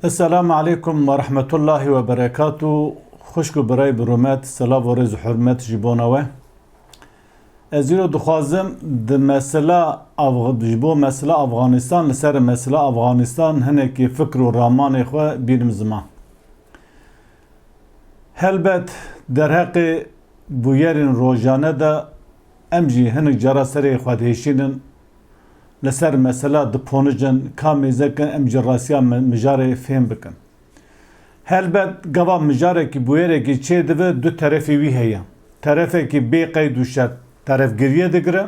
Esselamu aleykum ve rahmetullahî ve berekatû. Xwişk û birayê bi rûmet, silav û rêz û hurmet ji bona we. Ez îro dixwazim di mesela ji bo mesela Afxanistan li ser mesela Afxanistan hinekî fikir û ramanê xwe bînim ziman. Helbet derheqê bûyerên rojane de em jî hinek cara serê xwedihişînin Li ser mesela diponijin ka mêzekin em ji rastiya mijarê fêm bikin. Helbet gava mijarekî bûyerekî çê dibe du terefê wî heye. Terefekî bê qeyd û şert teref geriye digire,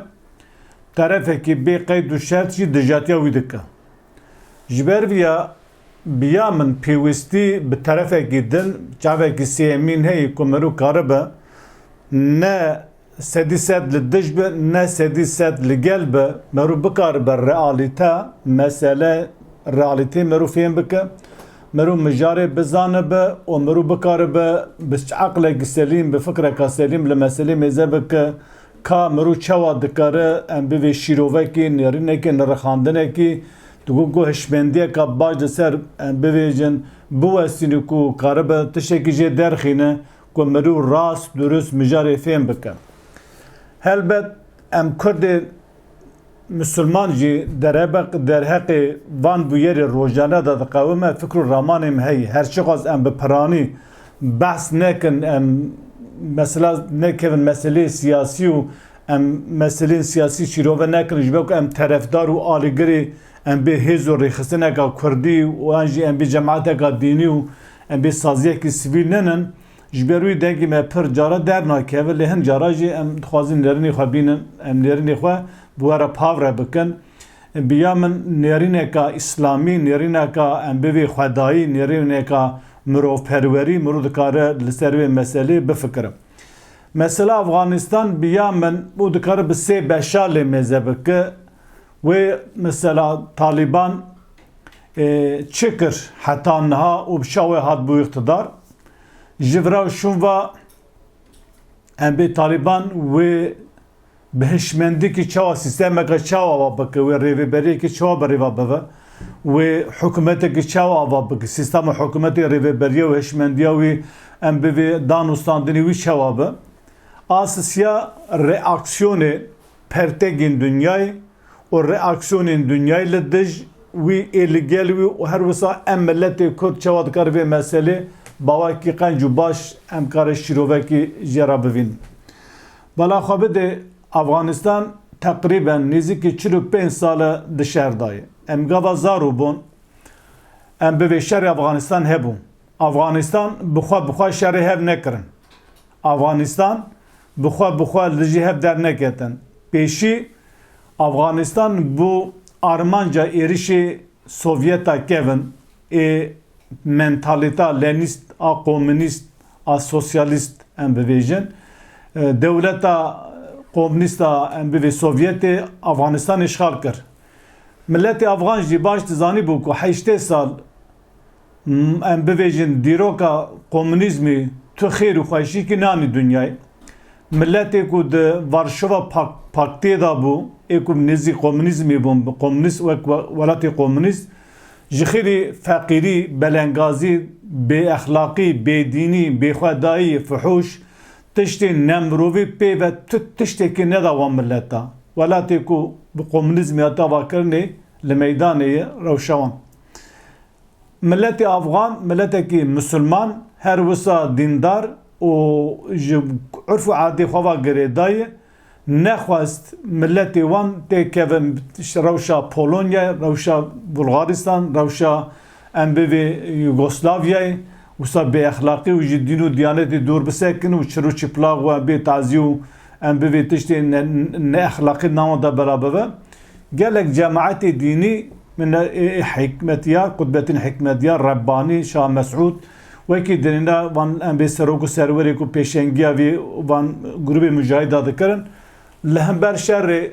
terefekî bê qeyd û şert jî dijatiya wî dike. Ji ber vî ya Bi ya min pêwîstî bi terefekî din, çavekî sêyemîn heye ku meriv karibe ne sedî sed li dij be ne sedî sed li gel be. Meriv bikaribe realîte, mesele, realîteyê meriv fêm bike, meriv mijarê bizanibe û meriv bikaribe bi eqlekî selîm, bi fikreka selîm li meselê mêze bike ka meriv çawa dikare em bivê şîrovekî, nêrînekî, nirixandinekî Di ku ku hişmendiyeke baş li ser em bivêjin, biwestîn û ku karibe tiştekî jê derxîne ku mirû rast, durust mijarê fêm bike. Helbet em kurdê misilman jî derhebeq derheqê van bûyerê rojane de diqewime, fikr û ramanê me heye. Her çiqas em bi piranî behs nekin, em mesela nekevin meseleyê siyasî û Em meseleyên siyasî şîrove nekin ji ber ku em terefdar û alîgirê em bê hêz û rêxistineka kurdî û yan jî em bê cemateka dînî û em bê saziyekî sivîl nenin. Ji ber wî dengê me pir caran dernakeve lê hin caran jî em dixwazin nêrînê xwe bînin. Em nêrînê xwe bi we re pavre bikin. Bi ya min nêrîneka îslamî, nêrîneka em bivê xwedayî, nêrîneka mirovperwerî mirov dikare li ser vê meselê bifikirim. Mesela Afganistan bi ya min û dikare bi sê beşa lê mêze bike. Wê mesela Taliban e, çi kir heta niha û bi şa wê hat bû îqtidar? Ji vira û şûn ve em bê Taliban wê Bi hişmendikî çawa sîstemeke çawa ava bike, wê rêvêberiyekî çawa bi rêva bive, wê hikûmetekî çawa ava bike, sîstema hikûmetê, rêvêberiya û hişmendiya wî em bi vê danûstandinê wî çawa be. Asisya reaksiyonê pertegên dinyayê û reaksiyonên dinyayê li dij wî ê li gel wî û her wisa em miletê kurd çawa dikare vê meselê bawekî qenc û baş em kare şîrovekî jê re bivînin. Bala xwe bidê, Afganistan teqrîben nêzîkî çil û pênc sal e di şer de ye. Em gava zarû bûn em bi vê şerê Afganistan hebûn. Afganistan bi xwe bi xwe şerê hev nekirin. Afganistan bi xwe bi xwe li dijî hev derneketin. Pêşî Afganistan bû armanca êrişê Sovyeta kevn. Ê mentalîta lenîst a komînîst a sosyalîst em bivêjin. Dewleta komînîst a em bivê Sovyetê Afxanistanê îşxal kir. Miletê afxan jî baş dizanîbû ku heştê sal em bivêjin dîroka komînîzmî tu xêr û xweşîkî nanî dinyayê. Miletê ku di Varşova Paktê de bû, ê ku nêzî komûnîzmê bûn, komûnîst wek welatê komûnîst, ji xêrî feqîrî, belengazî, bêexlaqî, bêdînî, bêxwedayî, fuhûş, tiştên nemirovî pê ve tu tiştekî neda wan milet de. Welatê ku bi komûnîzmê hat avakirinê li meydanê ye rewşa wan. Miletê Afgan miletekî Musulman, her wisa dîndar û ji urf û adê xwe ve girêdayê, nexwest miletê wan tê keve rewşa Polonyayê, rewşa Bulgaristan, rewşa em bivê Yugoslavyayê, wisa bêexlaqî û ji dîn û diyanetê dûr bisekin û çir û çiplax we bê tazî û em bivê tiştê neexlaqî di nava de belabive. Gelek cemaetê dînî min hikmetyar Kutbetîn Hikmetyar, Rebbanî, Şah Mesûd wekî di nêna van em vê serok û serwerê ku pêşengiya vî van grûbê mujahîda dikirin li hember şerê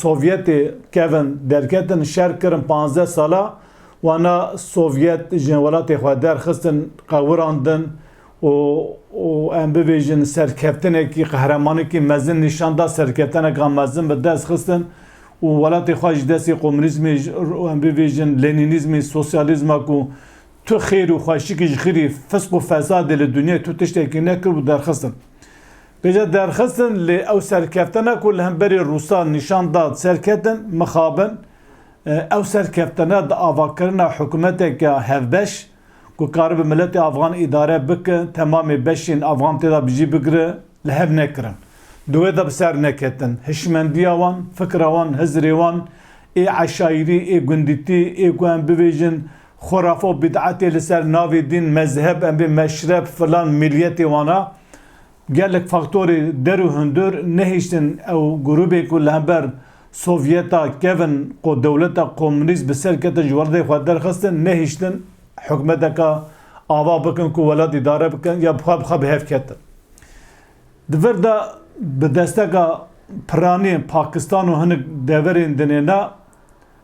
Sovyetê kevin derketin şer kirin panzdeh sala wana Sovyet ji welatê xwe derxistin qewirandin û em bibêjin serkeftinekî, qehremanekî mezin nîşan da, serkefteneka mezin bi dest xistin û welatê xwe ji destê komûnîzmê û em bibêjin lenînîzmê, sosyalîzma ku tu xêr û xweşikî ji xirî, fisq û fesadê li dinyayê tu tiştekî nekir û derxistin. Bêje derxistin lê ew serkeftena ku li hemberî Rûsan nîşan da serketin, mixabin, ew serkeftena di avakirina hikûmeteke hevbeş, ku karibe miletê afxan îdare bike, temamê beşên afxan tê de bi jî bigire, li hev nekirin. Di wê de bi ser neketin. Hişmendiya wan, fikra wan, hizirê wan ê eşaîrî, ê gundîtî, ê ku em bibêjin xurafe û bîd'etê li ser navê dîn, mezheb, em bê meşrep, filan, mîliyetê wan a, Gelek faktorê der û hundir nehiştin ew grûbên ku li hember Sovyeta kevin ku dewleta komûnîst bi ser ketin ji welatê xwe derxistin nehiştin hikûmeteke ava bikin ku welat îdare bikin ya xwe bi xwe bi hev ketin. Di vir de bi desteka piranî Pakistan û hinek deverên dinê ne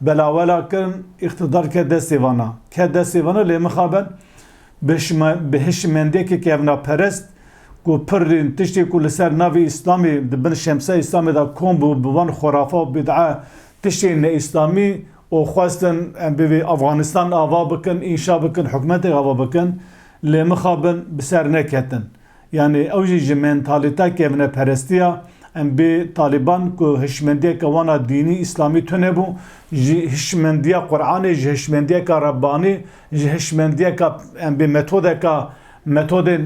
Belawela kirin îqtidar ke destê vana, ke destê vana lê mixabe bi hişimendiyekê kevnaperest ku pir tiştê ku li ser navê Îslamê di bin şemsiya Îslamê de kom bû bi van xurafa û bîd'a tiştên neîslamî û xwestin em bivê Afganistan ava bikin, înşa bikin, hikûmeteke ava bikin lê mixabin bi ser neketin. Yanî ew jî ji mentalîta kevneperestiya em bê Talîban ku hişmendiyeke wan a dînî îslamî tune bû, ji hişmendiya Quranê, ji hişmendiyeka Rebbanî, ji hişmendiyeka em bê metodeka metodên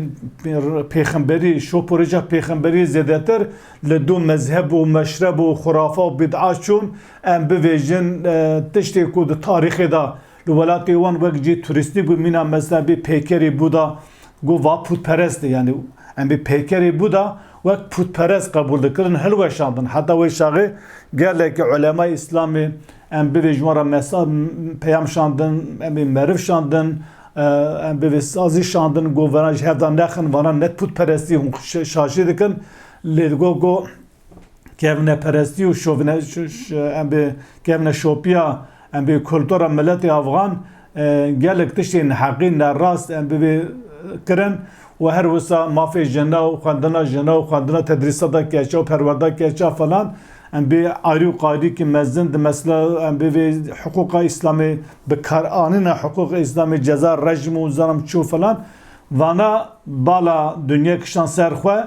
pêxemberî, şoporêja pêxemberî zêdetir li du mezheb û meşreb û xurafa û bîd'a çûn, em bivêjin tiştê ku di tarîxê de Li welatê wan wek cî turîstî bû mîna mezheb ê peykerê Buda got va pûtperest e yanî em ê peykerê Buda wek pûtperest qebûl dikirin hilweşandin heta wê şaxê gelekî ulemayê îslamê em bivê ji wan re mesaj peyam şandin em ê meriv şandin em bivê sazî şandin got veran ji hev de nexin vanan ne pûtperestî hûn şaşî dikin lê got got kevne perestî û şovine em bê kevne şopiya em bê kultura miletê afxan gelek tiştên heqî nerast em bibê kirin û her wisa mafê jina û xwendina jina û xwendina tedrîsata keça û perwerda keça falan em bê arî û qarîkî mezin di mesela em bê vê hiqûqa îslamê bi karanîna hiqûqa îslamê ceza rejim û zanam çû falan vana bala dunya kişan ser xwe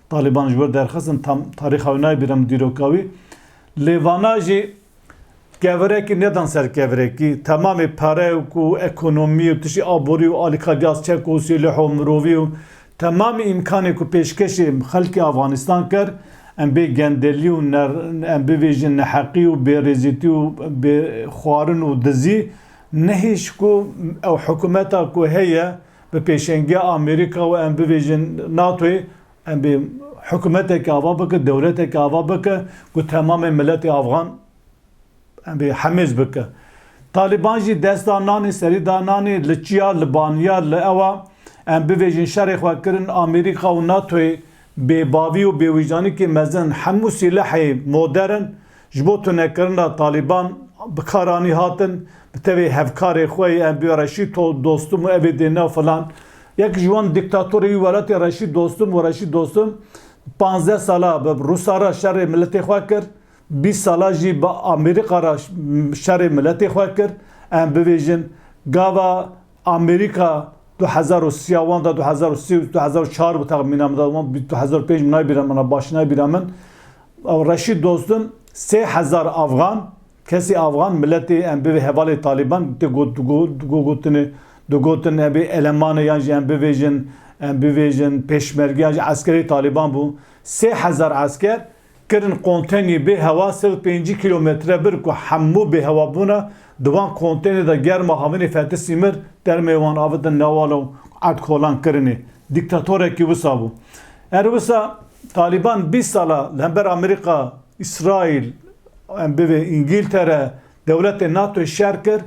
Taliban ji wir derxistin tam tarîxa wî nayê bîra min dîroka wî. Lê vana jî kevirekî nedan ser kevirekî. Temamê pere û ku ekonomî û tiştî aborî û alîkarîya çek û sîlih û mirovî û temamê îmkanê ku pêşkêşê xelkê Afganistan kir em bê gendelî û ne em bivêjin neheqî û bêrêzîtî û bê xwarin û dizî nehîş ku ew hikumeta ku heye bi pêşengiya Amerîka û em bibêjin NATO'yê em bê hikûmetekê ava bike, dewletekê ava bike ku temamê miletê afxan em bê hemêz bike. Talîban jî dest da nanê, serî da nanê, li çiya, li baniya, li ewa em bibêjin şerê xwe kirin Amerîka û NATO'yê bêbavî û bêwîcdanîkê mezin hemû sîlehê moderin Ji bo tunekirina Talîban bi kar anî hatin, bi tevî hevkarê xwe yên Enbîyo Reşîd To Dostum û evê dê nav filan. Yek ji wan dîktatorê wî welatê Reşîd Dostum û Reşîd Dostum panzdeh sala bi Rûsa re şerê miletê xwe kir, bîst sala jî bi Amerîka re şerê miletê xwe kir, em bibêjin gava Amerîka du hezar û sî ya wan da du hezar û sî û du hezar û çar bi texmîna min da wan bi du hezar û pênc min naybirin min a baş naybirin min ew Reşîd Dostum sê hezar afgan kesî afgan miletê em bivê hevalê Taliban tê got gogotinê digotin em ê eleman e yan jî em bivêjin em bivêjin pêşmerge yan jî eskerê Taliban bû sê hezar esker kirin konteynê bê hewa sed û pêncî kîlometre bir ku hemû bêhewabûna di van konteynê de germa havinê fetî sîmir termê wan avitin newala û edkolan kirinê. Dîktatorekî wisa bû. Her wisa Talîban bîst sal e li hember Amerîka, Îsraîl, em bivê Îngîltere, dewletên NATOyê şer kir,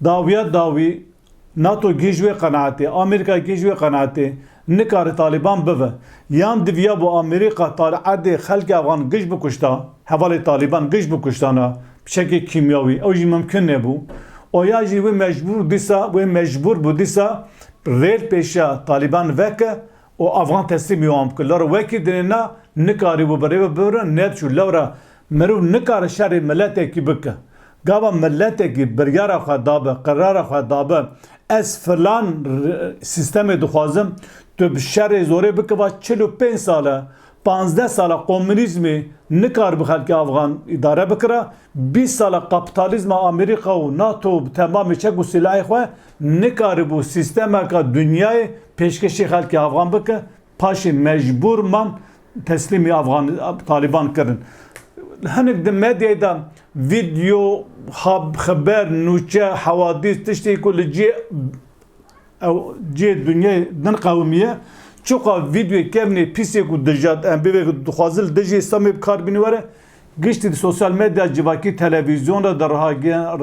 dawiya dawî Nato gih ji wê qenaetê, Amerîka gih ji wê qenaetê nikare Talîban bive. Yan diviya bo Amerîka tal erdê xelkê efxan gih bikuşta, hevalê Talîban gih bikuştana bi çekê kîmyawî ew jî mimkun nebû. Oya jî wê mecbûr dîsa wê mecbûr bû dîsa rêl pêşiya Talîban veke û efxan teslîmî wan bike. Lewre wekî dinê na nikarîbû bi rê ve bibirin, nediçû. Lewre Mirov nikare şerê miletekî bike. Gava miletekî biryara xwe dabe, qerara xwe dabe, ez filan sîstemê dixwazim, tu bi şerê zorê bike va çil û pênc sal e, panzdeh sal e komûnîzmê nikaribe xelkê afxan îdare bikira, bîst sal e kapîtalîzma Amerîka û NATO bi temamê çek û silahê xwe nikaribû sîstemeke dinyayê pêşkêşî xelkê afxan bike, Paşê mecbûr man teslîmî Afxan Talîban kirin. Hinek di medyayê de vîdyo, xeber, nûçe, hewadîs tiştê ku li cihê ew cihê dinyayê din qewimiye. Çiqas vîdyoyê kevnê pîsê ku dijat em bêvek dixwazin li dijî Îslamê bi kar bîne were, Giştî di sosyal medya civakî, televîzyon re di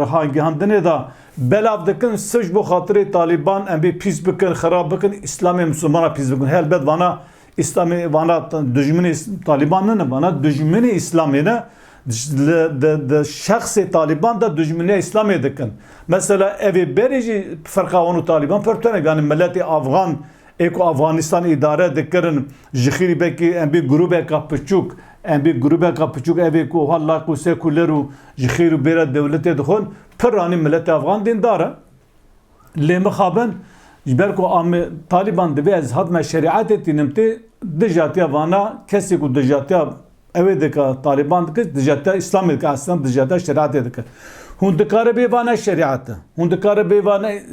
rihagihandinê de belav dikin sir ji bo xatirê Talîban em bê pîs bikin, xirab bikin, îslamê misilmanan pîs bikin. Helbet vana îslamê vana dijminê Talîban nine, vana dijminê îslamê ne. Di şexsê Talîban de dijminiya îslamê dikin. Mesela evê berê jî firqa wan û Talîban pir tune ganî miletê afxan Ê ku Afganistan îdare dikirin ji xîrî belkî em bê grûbeka piçûk, em bê grûbeka piçûk ev ê ku wiha layq û sekuler û ji xêr û bêra dewletê dixwin, pirranî miletê afgan dîndar e. Lê mixabin ji ber ku amê Talîban divê ez hatime şerîetê tînim tê, dijatiya vana kesê ku dijatiya Ew ê dike Taliban dike dijata Îslamê dike eslem dijata şeriatê dike. Hûn dikare bê vane şeriat e. Hûn dikare bê vane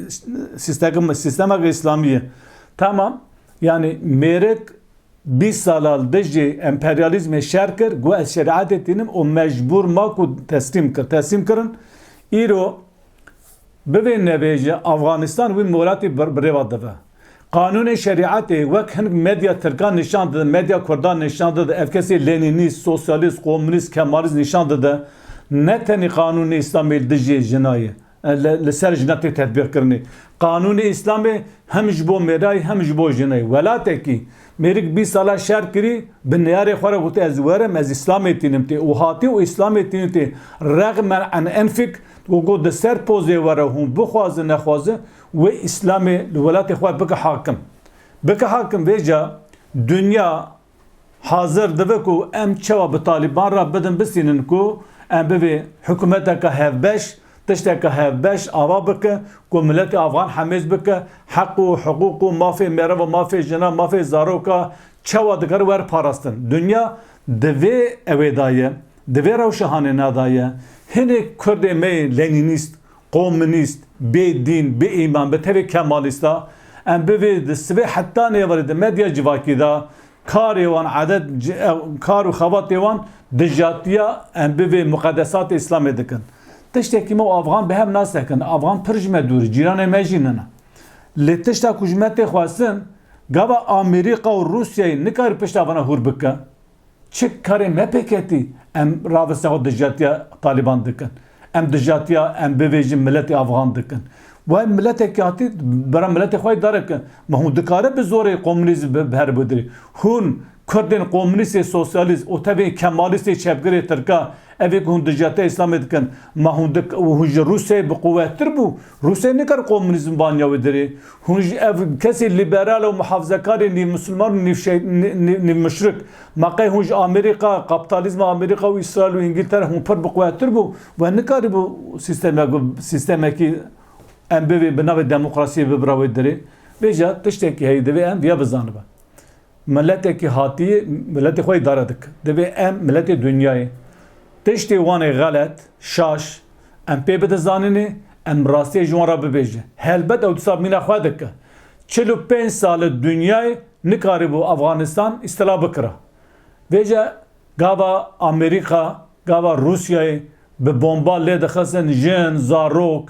sistema sistema Îslamî ye. Tamam yani mêrik 20 sala li dijî emperyalîzmê şer kir got ez şeriatê tînim û mecbûr ma ku teslîm kir. Teslîm kirin îro bivê nevê ji Afganistan wî moratî birêva dive. Qanûnê şerîetê wek hin medya tirkan nîşan dide, medya kurdan nîşan dide, ev kesî lenînîst, sosyalîst, komûnîst, kemalîst nîşan dide. Ne tenê qanûnê îslamî li dijî jina ye, li ser jina tê tetbîqkirinê. Qanûnê îslamê hem ji bo mêrayî hem ji bo jinayî. Welatekî mêrik bîst sala şer kirî bi neyarê xwe re gotiye ez werim ez îslamê tînim tê û hatiye û îslamê tînin tê rexmen an enfik û got di ser pozê we re hûn bixwazin nexwazin Wê îslamê li welatê xwe bike hakim. Bike hakim vê ca dinya hazir dibe ku em çawa bi Talîban re bidin bisînin ku em bivê hikûmeteke hevbeş, tişteke hevbeş ava bike ku miletê afxan hemêz bike, heq û hiqûq û mafê meriv û mafê jinan, mafê zaroka çawa dikare were parastin. Dinya di vê ewê da ye, di vê rewşehanê na da ye. Hinêk kurdê me yên lenînîst Komûnîst, bê dîn, bê îman, bi tevê kemalîst a, em bi vê di sibê heta nêverê di medya civakî de karê wan, adet kar û xebatê wan dijatiya em bi vê muqedesatê îslamê dikin. Tiştekî me û afxan bi hev nas dikin. Afxan pir ji me dûr e, cîranê me jî nina. Lê tişta ku ji me tê xwestin, gava Amerîka û Rûsyayê nikarî pişta vana hûr bike? Çi karê me pê ketî em raveste xwe dijatiya Taliban dikin. Em dijatiya em bivêjin miletê Afxan dikin. We miletekî hatî bera miletê xwe yê dare ki ma hûn dikare bi zorê komûnîzm bi her bidirî. Hûn kurdên komûnîstê sosyalîst û tevê kemalîstê çepgirê tirka evê ku hûn dijatiya îslamê dikin ma hûn dik hûn ji Rûsyayê bi quwettir bû Rûsê nikar komûnîzm vaniya wê dirê. Hûn ji ev kesê lîberal û mihafzekarê nîv misliman û nîv şey nîv muşrik. Ma qey hûn ji Amerîka, kaptalîzma Amerîka û Îsraîl û Îngîltere hûn pir bi quwettir bû we nikarîbû sîstemek sîstemekî em bivê bi navê demokrasiyê bibira wê dirê. Vêja tiştekî heye divê em viya bizanibe. Miletekî hatiyê miletê xwe îdare dike. Divê em miletê dinyayê tiştê wan ê xelet, şaş, em pê bide zanînê, em rastiyê ji wan re bibêjin. Helbet ew disa mîna xwe dike. Çil û pênc sal e dinyayê nikarîbû Afganistan îstila bikira. Vêce gava Amerîka, gava Rûsyayê bi bomba lê dixistin jin, zarok,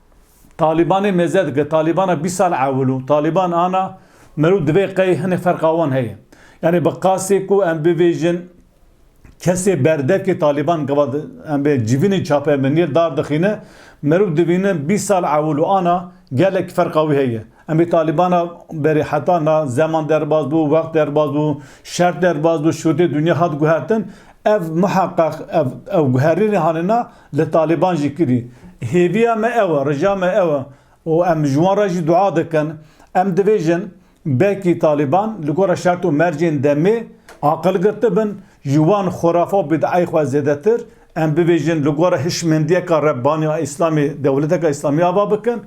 Talîbanê mêze dike, Talîbana bîst sal ewil û Talîban ana merû divê qey hinek ferqa wan heye. Yanî bi qasê ku em bivêjin kesê berdekê Talîban gava em bê civînê çape min nîr dar dixîne, merû divînin bîst sal ewil û ana gelek ferqa wî heye. Em ê Talîbana berê heta na zeman derbas bû, wext derbas bû, şert derbas bû, şûtê dinya hat guhertin. Ev muheqeq ev ew guherînê hanê na Li Talîban jî kirî. Hêviya me ew e, rêja me ew e û em ji wan re jî dua dikin. Em dibêjin belkî Talîban li gora şert û mercên demê aqil girtibin, ji wan xurafe û bîd'ayê xwe zêdetir, em bibêjin li gora hişmendiyeke Rebbaniya Îslamê dewleteke Îslamî ava bikin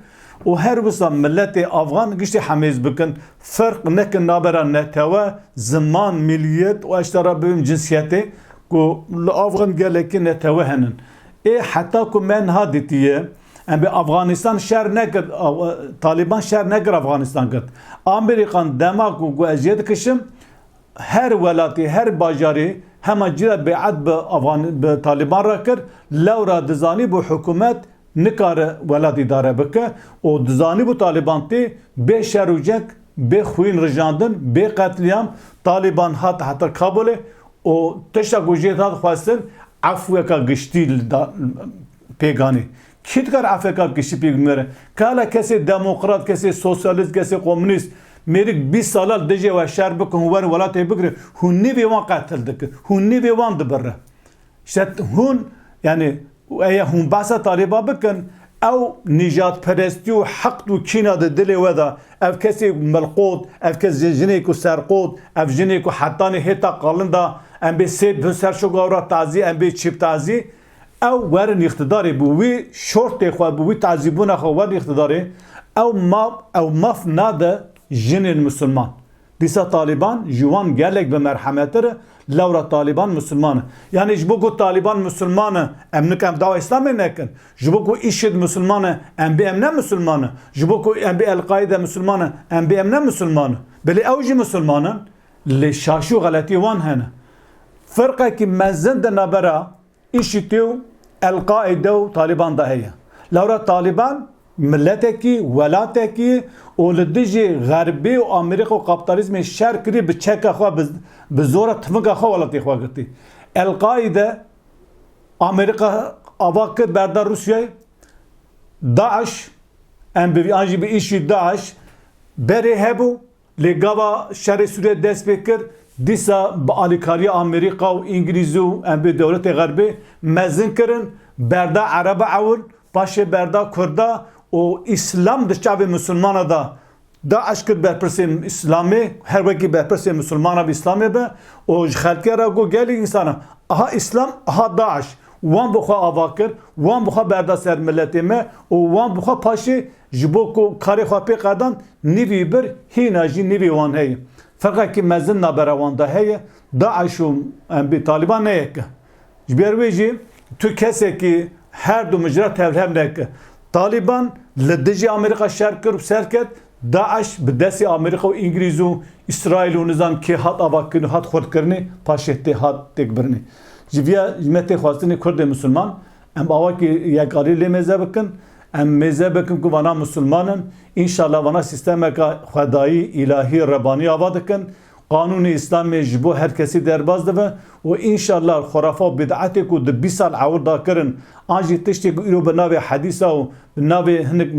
û her wisa miletê afxan giştî hemêz bikin, ferq nekin navbera netewe, ziman, miliyet û eştera bibim cinsiyetê, Ku li Afgan gelekî netewe hene. Ê heta ku me niha dîtiye. Em bê Afganistan şer nekir Taliban şer nekir Afganistan kir. Amerîkan dema ku got ez jê dikişim her welatî her bajarî hema cîra bêet bi Afgan bi Taliban re kir. Lewra dizanîbû hikûmet nikare welat îdare bike û dizanîbû Taliban tê bê şer û ceng, bê xwîn rijandin, bê qetlîam. Taliban hat heta Kabûlê Û tişta ku jê ta dixwestin efweka giştî li da pêganî. Kî dikare efweka giştî pêk bimêre? Kala kesê demokrat, kesê sosyalîst, kesê komûnîst mêrik bîst sala li dijê we şer bike hûn werin welatê bigire, hûn nîvê wan qetil dike, hûn nîvê wan dibire. Ji te hûn yanî Û eya hûn behsa Talîban bikin, ew nîjadperestî û hiqd û kîna di dilê we de, ev kesê ku milqot, ev kes jin jinê ku serqot, ev jinê ku hetanê hêta qalinda, em bê sê bihn ser şogawra tazî, em bê çîb tazî, ew werin îqtidarê bi wî şortê xwe, bi wî tazîbûna xwe werin îqtidarê, ew maf, ew maf nade jinên misilman. Dîsa Talîban ji wan gelek bi merhemettir e, lewra Talîban Musulman e. Yanî ji bo ku Talîban Musulman e, em nika em dawa Îslamê nekin. Ji bo ku IŞİD Musulman e, em bê em ne Musulman in. Ji bo ku em bê El-Qaîde Musulman e, em bê em ne Musulman in. Bilê ew jî Musulman in. Lê şaşî û xeletî wan hene. Firqekî mezin di navbera IŞİT'ê û El-Qaîde û Talîban de heye. Lewra Talîban miletekî, welatekî û li dijî Xerbî û Amerîka û kaptalîzmê şer kirî bi çeka xwe bi zor e tifinga xwe welatê xwe girtî. El-Qaîde Amerîka ava kir berda Rûsyayê DAIŞ, em bi vî an jî bi IŞĪD-DAIŞ berê hebû Lê gava şerê Sûriyê dest pê kir, dîsa bi alîkariya Amerîka û Îngilîzî û em bê dewletê Xerbê mezin kirin, berda Ereba ewil, paşê berda Kurda û Îslam di çavê Misilmana de DAIŞ kir berpirsê Îslamê, her wekî berpirsê Misilmana bi Îslamê be û ji xelkê re got gelek însan e, aha Îslam, aha DAIŞ. Wan bi xwe ava kir, wan bi xwe berda ser miletê me û wan bi xwe paşê Ji bo ku karê xwe pê qedan, nîvî bir hîna jî nîvî wan heye. Feqekî mezin nabera wan de heye, DAIŞ û MB, Taliban ne yek e. Ji ber wê jî tu kesekî her du mijra tevhev neke. Taliban li dijî Amerîka şer kir û serket, DAIŞ bi destê Amerîka û Îngilîz û Îsraîl û nizan kê hat avakirin û hat xurtkirinê, paşê tê hat têkbirinê. Ji vîya me tê xwestinê kurdê misilman Em ava ki yekarî lê mêze bikin, em mêze bikin ku vana Musulman in, înşallah vana sîstemeka xwedayî, îlahî, rebanî ava dikin, qanûnê îslamê ji bo her kesî derbas dibe û înşallah xurafa û bîd'etê ku di bîst sal ewil da kirin an jî tiştê ku îro bi navê hedîsa û bi navê hinek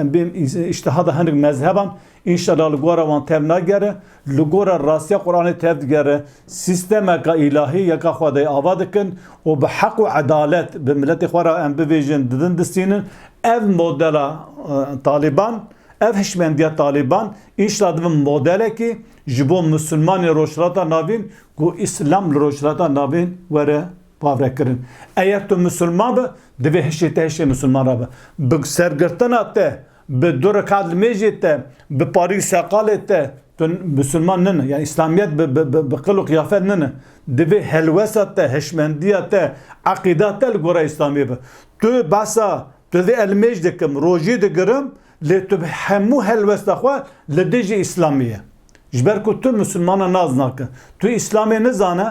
em bêm îştihada hinek mezheban Înşela li gora wan tev nagere, li gora rastiya Quranê tev digere, sîstemeka îlahî yeka Xwedayê ava dikin û bi heq û edalet bi miletê xwe re em bivêjin, didin distînin. Ev modela Talîban, ev hişmendiya Talîban înşela dibin modelekî ji bo Misilmanên Rojhilata Navîn ku Îslam li Rojhilata Navîn were pavrekirin. Eger tu Misilman be, divê hişê te hişê Misilman re be. Bi sergirtina te Bi dû rekat li mêjê te, bi parî seqalê te tu misilman nine. Yanî îslamiyet bi qil û qiyafet nine. Divê helwesta te, hişmendiya te, eqîda te li gora îslamiyê be. Tu behsa tu vê ez li mêj dikim, rojî digirim lê tu hemû helwesta xwe li dijî îslamê ye. Ji ber ku tu misilmana nas nake. Tu îslamê nizane,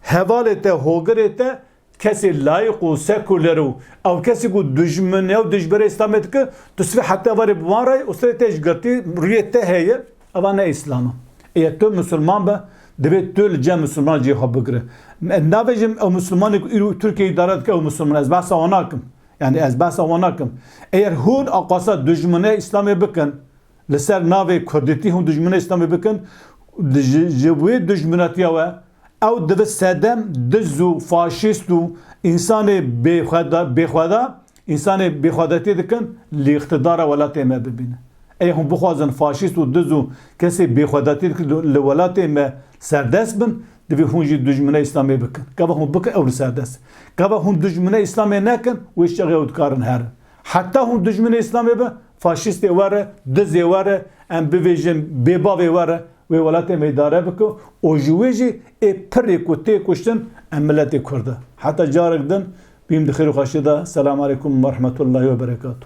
hevalê te, hogirê te Kesê layîq û sekuler û ew kesî ku dijmin e û dijberê Îslamê dike, tu sibê heta warê bi wan re yî û serê te ji girtî rûyê te heye, eva ne Îslam e. Eger tu Misliman be, divê tu li cem Mislimanan cihê xwe bigire. Ez nabêjim ew Mislimanê ku îro Tirkiyeyê îdare dike ew Misliman e, ez behsa wan nakim. Yanî ez behsa wan nakim. Eger hûn axwaza dijminê Îslamê bikin, li ser navê kurdîtî hûn dijminê Îslamê bikin, ji ji wê dijminatiya we, Ew divit sedem diz û faşîst û însanê bêxweda bêxweda însanê bêxwedetî dikin li îqtidara welatê me bibînin. Ê hûn bixwazin faşîst û diz û kesê bêxwedetî dikin li welatê me serdest bin, divê hûn jî dujmine îslamê bikin. Gava hûn bikin ew li serdest in. Gava hûn dujmine îslamê nekin wê çaxê ew dikarin herin. Heta hûn dujmine îslamê bin Faşîstê were, dizê were, em bivêjin bêbavê were wê welatê me îdare bike û ji wê jî ê pirrê ku tê kuştin em miletê kurd e. Heta carek din bîm di xêr û xweşiyê de. Selam aleykum werehmetullahî weberekatû.